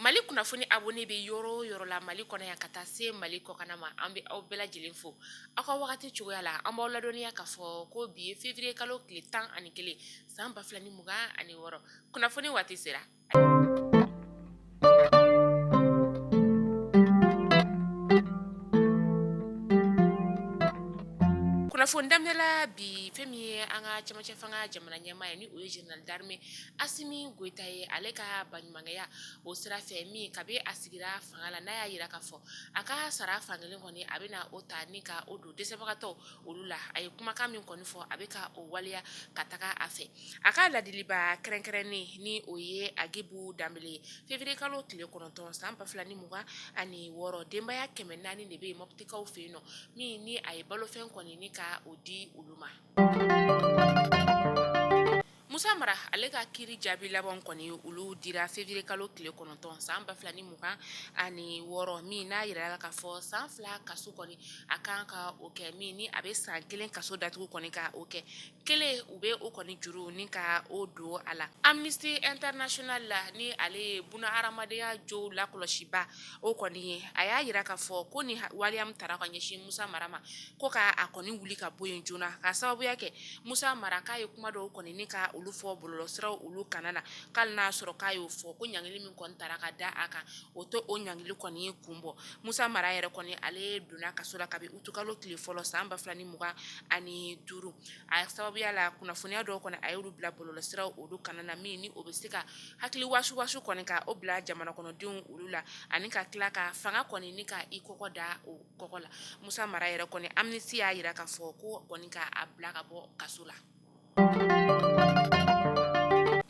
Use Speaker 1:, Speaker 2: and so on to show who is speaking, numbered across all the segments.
Speaker 1: mali kunnafoni abonné bɛ yɔrɔ o yɔrɔ la mali kɔnɔ yan ka taa se mali kɔkana ma an bɛ aw bɛɛ lajɛlen fo aw ka wagati cogoya la an b'aw ladɔnniya k'a fɔ ko bi ye février kalo tile tan ani kelen san ba fila ni mugan ani wɔɔrɔ kunnafoni waati sera Kunnafoni daminɛla bi fɛn min ye an ka cɛmancɛ fanga jamana ɲɛmaa ye ni o ye général d'armée Asimi Goyita ye ale ka baɲumankɛya o sira fɛ min kabi a sigira fanga la n'a y'a yira k'a fɔ a ka sara fan kelen kɔni a bɛna o ta ni ka o don dɛsɛbagatɔw olu la a ye kumakan min kɔni fɔ a bɛ ka o waleya ka taga a fɛ A ka ladilibaa kɛrɛnkɛrɛnnen ni o ye Agibu Danbele ye février kalo tile 9 san 2026 denbaya 400 de bɛ yen mɔptikaw fɛ yen nɔ min ni a ye balofɛn kɔni ni ka o di olu ma Musa Mara ale ka kiiri jaabi labanw kɔni olu dira février kalo tile 9 san 2026 min n'a yirala k'a fɔ san 2 kaso kɔni a kan ka o kɛ min ni a bɛ san 1 kaso datugu kɔni ka o kɛ kelen u bɛ o kɔni juru ni ka o don a la Amnesty International la ni ale ye duniya hadamadenya jo lakɔlɔsiba o kɔni ye a y'a yira k'a fɔ ko ni waleya min tara ka ɲɛsin musa mara ma ko ka a kɔni wuli ka bɔ yen joona ka sababuya kɛ musa mara k'a ye kuma dɔw kɔni ni ka olu fɔ bɔlɔlɔsiraw olu kana na k'ali n'a sɔrɔ k'a y'o fɔ ko ɲangili min kɔni tara ka da a kan o to o ɲangili kɔni ye kun bɔ musa mara yɛrɛ kɔni ale donna kaso la kabi utukalo tile fɔlɔ san ba 2 ni mugan ani duuru a sababuya la kunnafoniya dɔw kɔni a y'olu bila bɔlɔlɔsira olu kana na min ni o bɛ se ka hakili wasuwasu kɔni ka o bila jamana kɔnɔdenw olu la ani ka tila ka fanga kɔni ni ka i kɔgɔ da o kɔgɔ la musa mara yɛrɛ kɔni Amnesty y'a yira k'a fɔ ko kɔni k'a bila ka bɔ kaso la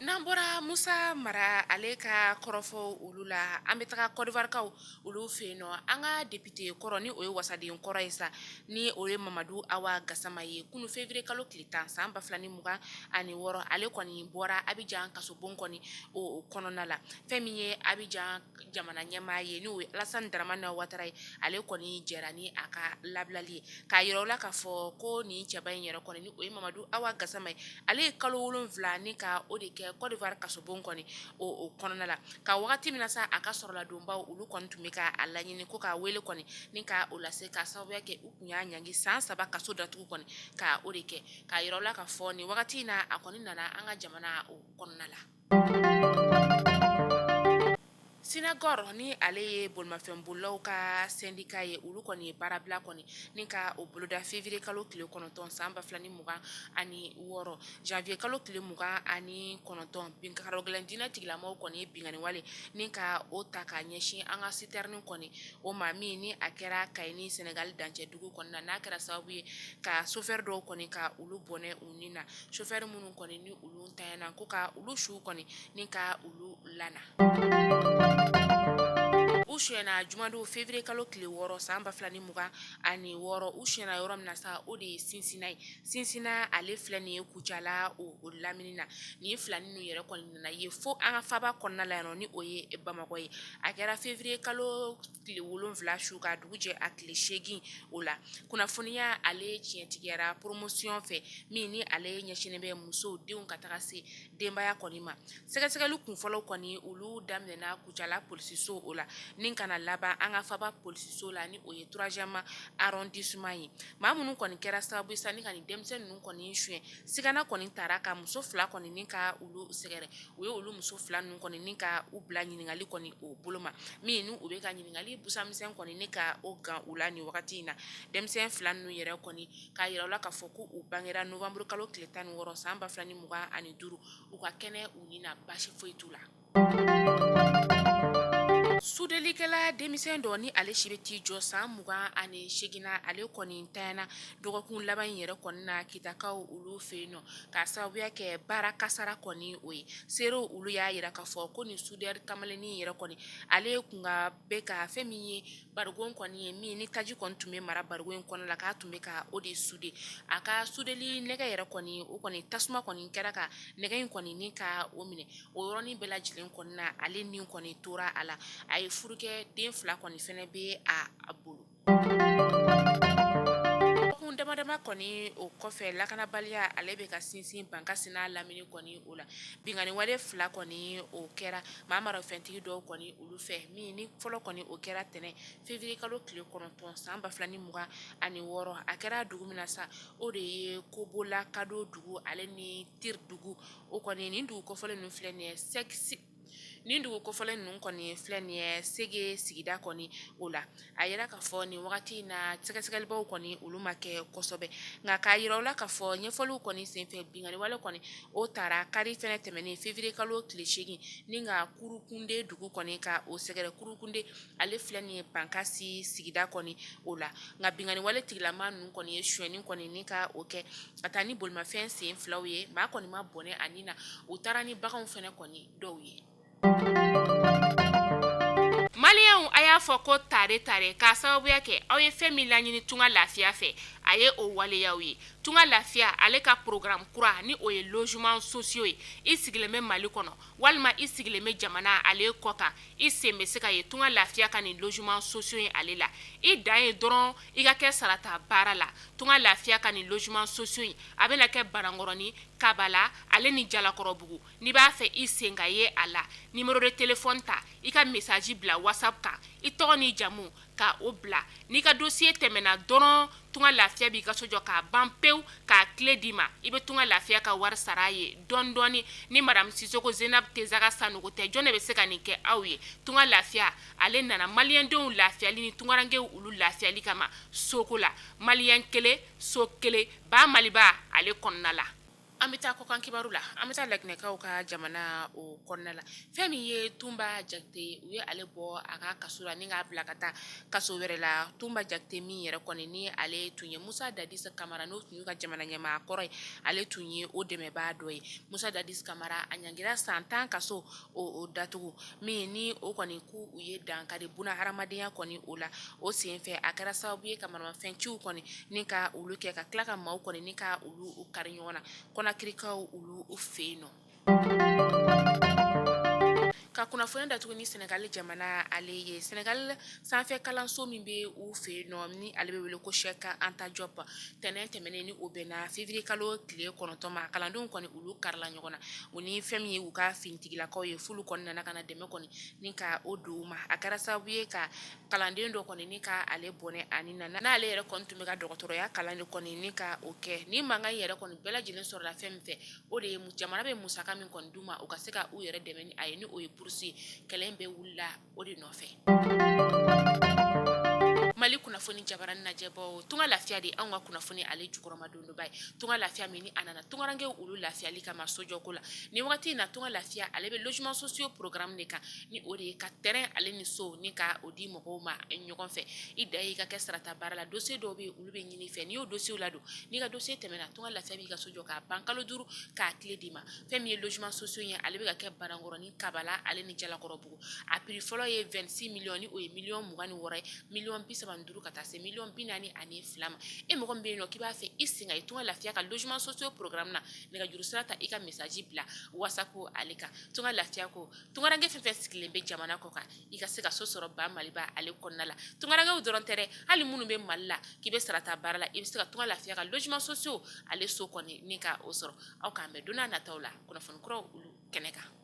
Speaker 1: N'an bɔra musa mara ale ka kɔrɔfɔ olu la an bɛ taga Côte d'Ivoirekaw olu fɛ yen nɔ an ka député kɔrɔ ni o ye wasaden kɔrɔ ye sa ni o ye mamadu awa gasama ye kunun février kalo tile tan san ba 2 ni mugan ani wɔɔrɔ ale kɔni bɔra Abidjan kasobon kɔni o kɔnɔna la fɛn min ye Abidjan jamana ɲɛmaa ye n'o ye Alassane Dramane Ouattara ye ale kɔni jɛra ni a ka labilali ye k'a yira u la k'a fɔ ko nin cɛba in yɛrɛ kɔni ni o ye Mamadou Awa Gassama ye ale ye kalo 7 ni ka o de kɛ Côte d'Ivoire kasobon kɔni o kɔnɔna la ka wagati min na sa a ka sɔrɔladonbaaw olu kɔni tun bɛ ka a laɲini ko k'a wele kɔni ni ka o lase ka sababuya kɛ u tun y'a ɲangi san saba kaso datugu kɔni ka o de kɛ k'a yira u la k'a fɔ nin wagati in na a kɔni nana an ka jamana o kɔnɔna la Sinakɔri ni ale ye bolimafɛnbolilaw ka sɛndika ye olu kɔni ye baarabila kɔni ni ka o boloda feviriye kalo tile kɔnɔntɔn san ba fila ni mugan ani wɔɔrɔ janviye kalo tile mugan ani kɔnɔntɔn karogɛlɛn diinɛ tigilamɔgɔw kɔni ye binkanni wale ni ka o ta ka ɲɛsin an ka siterini kɔni o ma min ni a kɛra Kayi ni Senegali dancɛdugu kɔni na n'a kɛra sababu ye ka sofɛri dɔw kɔni ka olu bɔnɛ u ni na sofɛri minnu kɔni ni olu na ko ka olu su kɔni ni ka olu lana u suyɛna jumadon feviriye kalo tile wɔɔrɔ san ba fila ni mugan ani wɔɔrɔ u suyɛna yɔrɔ min na sa o de ye Sinsina ye Sinsina ale filɛ nin ye Kucala o lamini na nin filani ninnu yɛrɛ kɔni nana ye fo an ka faba kɔnɔna la yan ni o ye Bamakɔ ye a kɛra feviriye kalo tile wolonwula su ka dugu jɛ a tile segin o la kunnafoniya ale tiɲɛtigiyara poromosiyɔn fɛ min ni ale ɲɛsin bɛ musow denw ka taga se denbaya kɔni ma sɛgɛsɛgɛli kunfɔlɔw kɔni olu daminɛna Kucala polisiso o la ni ka na laban an ka faba polisiso la ni o ye troisième arrondissement ye maa minnu kɔni kɛra sababu ye sa ni ka nin denmisɛnnin ninnu kɔni suyɛn sigana kɔni taara ka muso fila kɔni ni ka olu sɛgɛrɛ u ye olu muso fila ninnu kɔni ni ka u bila ɲininkali kɔni o bolo ma min n' u bɛ ka ɲininkali busamisɛn kɔni ni ka o gan u la nin wagati in na denmisɛn fila ninnu yɛrɛ kɔni k'a jira u la k'a fɔ ko u bangera nowanburukalo tile tan ni wɔɔrɔ san ba fila ni mugan ani duuru u ka kɛnɛ u ni na basi foyi t'u la Sudelikɛla denmisɛn dɔ ni ale si bɛ t'i jɔ san mugan ani segin na ale kɔni ntanyana dɔgɔkun laban in yɛrɛ kɔni na Kitakaw olu fɛ yen nɔ k'a sababuya kɛ baara kasara kɔni o ye seerew olu y'a jira k'a fɔ ko nin sudɛri kamalennin yɛrɛ kɔni ale ye tun ka bɛ ka fɛn min ye barigon kɔni ye min ni taji kɔni tun bɛ mara barigon in kɔnɔ la k'a tun bɛ ka o de sude a ka sudeli nɛgɛ yɛrɛ kɔni o kɔni tasuma kɔni kɛra ka nɛgɛ in kɔni ni ka o minɛ o yɔrɔnin bɛɛ lajɛlen kɔni na ale ni kɔni tora a la a ye furu kɛ den fila kɔni fana bɛ a bolo kun damadama kɔni o kɔfɛ lakanabaliya ale bɛ ka sinsin Bankasi n'a lamini kɔni o la binkanni wale fila kɔni o kɛra maa marafɛntigi dɔw kɔni olu fɛ min ni fɔlɔ kɔni o kɛra tɛnɛn feviriye kalo tile kɔnɔntɔn san ba fila ni mugan ani wɔɔrɔ a kɛra dugu min na sa o de ye Kobola Kado dugu ale ni teri dugu o kɔni nin dugu kofɔlen ninnu filɛ nin ye nin dugu kofɔlen ninnu kɔni filɛ nin ye Sege sigida kɔni o la a jira k'a fɔ nin wagati in na sɛgɛsɛgɛlibaw kɔni olu ma kɛ kosɛbɛ nka k'a jira u la k'a fɔ ɲɛfɔliw kɔni senfɛ binkanni wale kɔni o taara kari fɛnɛ tɛmɛnen feviriye kalo tile segin ni ka Kurukunde dugu kɔni ka o sɛgɛrɛ Kurukunde ale filɛ nin ye Bankasi sigida kɔni o la nka binkanni wale tigilama ninnu kɔni ye suyɛnni kɔni ni ka o kɛ ka taa ni bolimafɛn sen filaw ye maa kɔni ma bɔnɛ a nin na u taara ni baganw fɛnɛ kɔni dɔw ye maliyɛnw a y'a fɔ ko tare tare k'a sababuya kɛ aw ye fɛn min laɲini tunga lafiya fɛ a ye o waleya aw ye tunga lafiya ale ka programme kura ni o ye logements sociaux ye i sigilen bɛ mali kɔnɔ walima i sigilen bɛ jamana ale kɔkan i sen bɛ se ka ye tunga lafiya ka nin logements sociaux ye ale la i dan ye dɔrɔn i ka kɛ sarata baara la tunga lafiya ka nin logements sociaux in a bɛna kɛ banankɔrɔnin kabala ale ni jalakɔrɔbugu n'i b'a fɛ i sen ka ye a la numéro de téléphone ta i ka message bila whatsapp kan i tɔgɔ ni jamu ka o bila n'i ka dossier tɛmɛna dɔrɔn tunga lafiya b'i ka so jɔ k'a ban pewu k'a kile d'i ma i bɛ tunga lafiya ka wari sara a ye dɔɔni dɔɔni ni madamu sisoko zenab tesaga sanogo tɛ jɔn de bɛ se ka nin kɛ aw ye tunga lafiya ale nana maliyɛndenw lafiyali ni tungarankɛw olu lafiyali kama soko la maliyɛn kelen so kelen ba maliba ale kɔnɔna la an bɛ taa kɔkan kibaru la an bɛ taa laginɛkaw ka jamana o kɔnɔna la fɛn min ye tunba jakite u ye ale bɔ a ka kaso la ni k'a bila ka taa kaso wɛrɛ la tunba jakite min yɛrɛ kɔni ni ale tun ye musa dadis kamara n'o tun y'u ka jamana ɲɛmaa kɔrɔ ye ale tun ye o dɛmɛbaa dɔ ye musa dadis kamara a ɲangira san tan kaso o datugu min ni o kɔni k' u ye dankari buna hadamadenya kɔni o la o senfɛ a kɛra sababu ye ka maramafɛnciw kɔni ni ka olu kɛ ka tila ka maaw kɔni ni ka olu kari ɲɔgɔn na konakirikaw olu u fɛ yen nɔ ka kunnafoni datugu ni sɛnɛgali jamana ale ye sɛnɛgali sanfɛ kalanso min bɛ u fɛ yen nɔ ni ale bɛ wele ko cheikh anta diop tɛnɛn tɛmɛnen ni o bɛnna février kalo tile kɔnɔntɔnma kalandenw kɔni olu karila ɲɔgɔn na u ni fɛn min ye u ka finitigilakaw ye fulu kɔni nana ka na dɛmɛ kɔni ni ka o don u ma a kɛra sababu ye ka kalanden dɔ kɔni ni ka ale bɔnɛ a nin na n'ale yɛrɛ kɔni tun bɛ ka dɔgɔtɔrɔya kalan de kɔni ni ka o kɛ ni mankan yɛrɛ kɔni bɛɛ lajɛlen sɔrɔla fɛn min fɛ o de ye jamana bɛ musaka min kɔni d'u ma u ka se ka u yɛrɛ dɛmɛ ni a ye ni o ye burusi ye kɛlɛ bɛɛ wulila o de nɔfɛ mali kunnafoni jabaranin lajɛbaaw tunga lafiya de an ka kunnafoni ale jukɔrɔmadonbaa ye tunga lafiya min ni a nana tungarankɛw olu lafiyali kama sojɔko la ni waati in na tunga lafiya ale bɛ logements sociaux programme de kan ni o de ye ka terrain ale ni so ni ka o di mɔgɔw ma ɲɔgɔn fɛ i dan y'i ka kɛ sarata baara la dossier dɔw bɛ yen olu bɛ ɲini i fɛ n'i y'o dossierw ladon n'i ka dossier tɛmɛna tunga lafiya b'i ka so jɔ k'a ban kalo duuru k'a kile d'i ma fɛn min ye logements sociaux ye ale bɛ ka kɛ banankɔrɔnin kabala ale ni jalakɔrɔbugu a prix fɔlɔ ye 26 millions ni o ye miliyɔn mugan ni wɔɔrɔ ye, miliyɔn bi saba ni duuru ka taa se miliyɔn bi naani ani fila ma, e mɔgɔ min bɛ yen n'o k'i b'a fɛ i sen ka ye tunga lafiya ka logements sociaux programme na nɛgɛjuru sira ta i ka message bila whatsapp ale kan tunga lafiya ko tunkaranke fɛn o fɛn sigilen bɛ jamana kɔ kan i ka se ka so sɔrɔ ba Maliba ale kɔnɔna la tunkarankew dɔrɔn tɛ dɛ hali minnu bɛ Mali la k'i bɛ sarata baara la i bɛ se ka tunga lafiya ka logements sociaux ale so ko ɲini ka o sɔrɔ aw k'an bɛn don n'a nataw la kunnafoni kuraw olu kɛnɛ kan